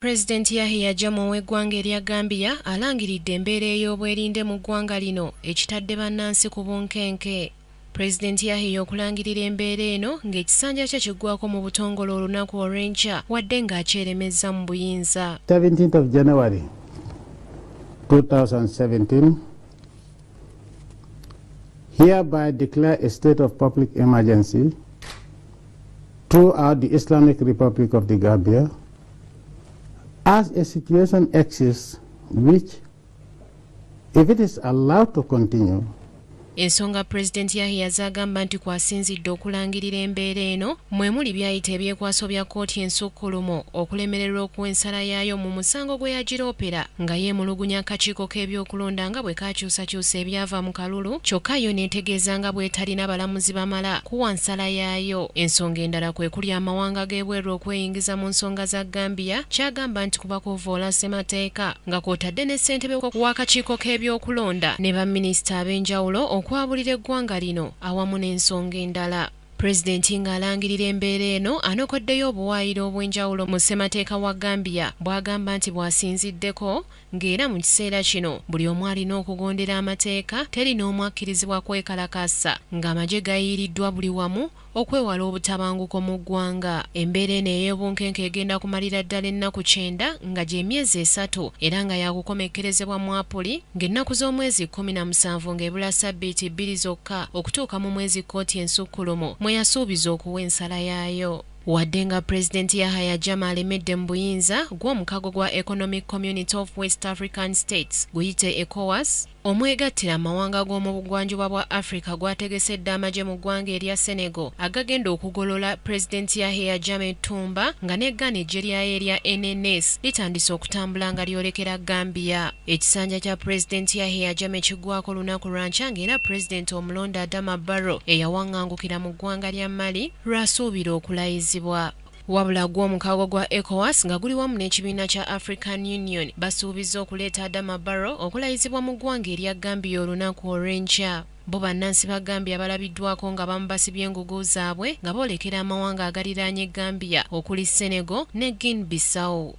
President Yahya Jammeh ow'eggwanga erya Gambia alangiridde embeera ey'obwerinde mu ggwanga lino ekitadde bannansi ku bunkenke. President Yahya okulangirira embeera eno ng'ekisanja kye kiggwako mu butongole olunaku olw'enkya wadde ng'akyeremezza mu buyinza. 17th of January 2017 hereby declare a state of public emergency throughout the Islamic Republic of the Gambia As a situation exists which, if it is allowed to continue, ensonga pulezidenti yahiya z'agamba nti kwasinzidde okulangirira embeera eno mwe muli byayita ebyekwaso bya kkooti ensukkulumu okulemererwa okuwa ensala yaayo mu musango gwe yagiroopera nga yeemulugunya akakiiko k'ebyokulonda nga bwe kaakyusakyusa ebyava mu kalulu kyokka yo n'etegeeza nga bw'etalina balamuzi bamala kuwa nsala yaayo ensonga endala kwe kuli amawanga g'ebweru okweyingiza okukkiririza mu nsonga za Gambia kyagamba nti kuba kuvvoola ssemateeka nga kwotadde ne ssentebe w'akakiiko k'ebyokulonda ne ba minisita ab'enjawulo okwabulira eggwanga lino awamu n'ensonga endala. Pulezidenti ng'alangirira embeera eno anokoddeyo obuwaayiro obw'enjawulo mu ssemateeka wa Gambia bwagamba nti bwasinziddeko ng'era mu kiseera kino buli omu alina okugondera amateeka teri n'omu akkirizibwa kwekalakaasa ng'amagye gayiiriddwa buli wamu Okwewala obutabanguko mu ggwanga, embeera eno ey'ebunkenke egenda kumalira ddala ennaku kyenda nga gy'emyezi esatu era nga yaakukomekkerezebwa mu Apuli ng'ennaku z'omwezi kkumi na musanvu ng'ebula ssabbiiti bbiri zokka okutuuka mu mwezi kkooti ensukkulumu mwe yasuubiza okuwa ensala yaayo. Wadde nga Pulezidenti Yahaya Jammeh alemedde mu buyinza, gwo omukago gwa Economic Community of West African States guyite ECOWAS, Omwegattira amawanga g'omu bugwanjuba bwa Africa gwategesedde amagye mu ggwanga erya Senegal agagenda okugolola Pulezidenti Yahya Jammeh Toumba nga ne Ghana eggye lyayo erya NNS litandise okutambula nga lyolekera Gambia. Ekisanja kya Pulezidenti Yahya Jammeh kiggwako lunaku lwankya nga era Pulezidenti omulonde Adama Barrow eyawangangukira mu ggwanga lya Mali lw'asuubira okulayizibwa. Wabula gwo omukago gwa ECOWAS nga guli wamu n'ekibiina kya African Union basuubizza okuleeta Adama Barrow okulayizibwa mu ggwanga erya Gambia olunaku olw'enkya. Bbo bannansi ba Gambia balabiddwako nga abamu basibye engugu zaabwe nga boolekera amawanga agaliraanye Gambia okuli Senegal ne Guine Bissau.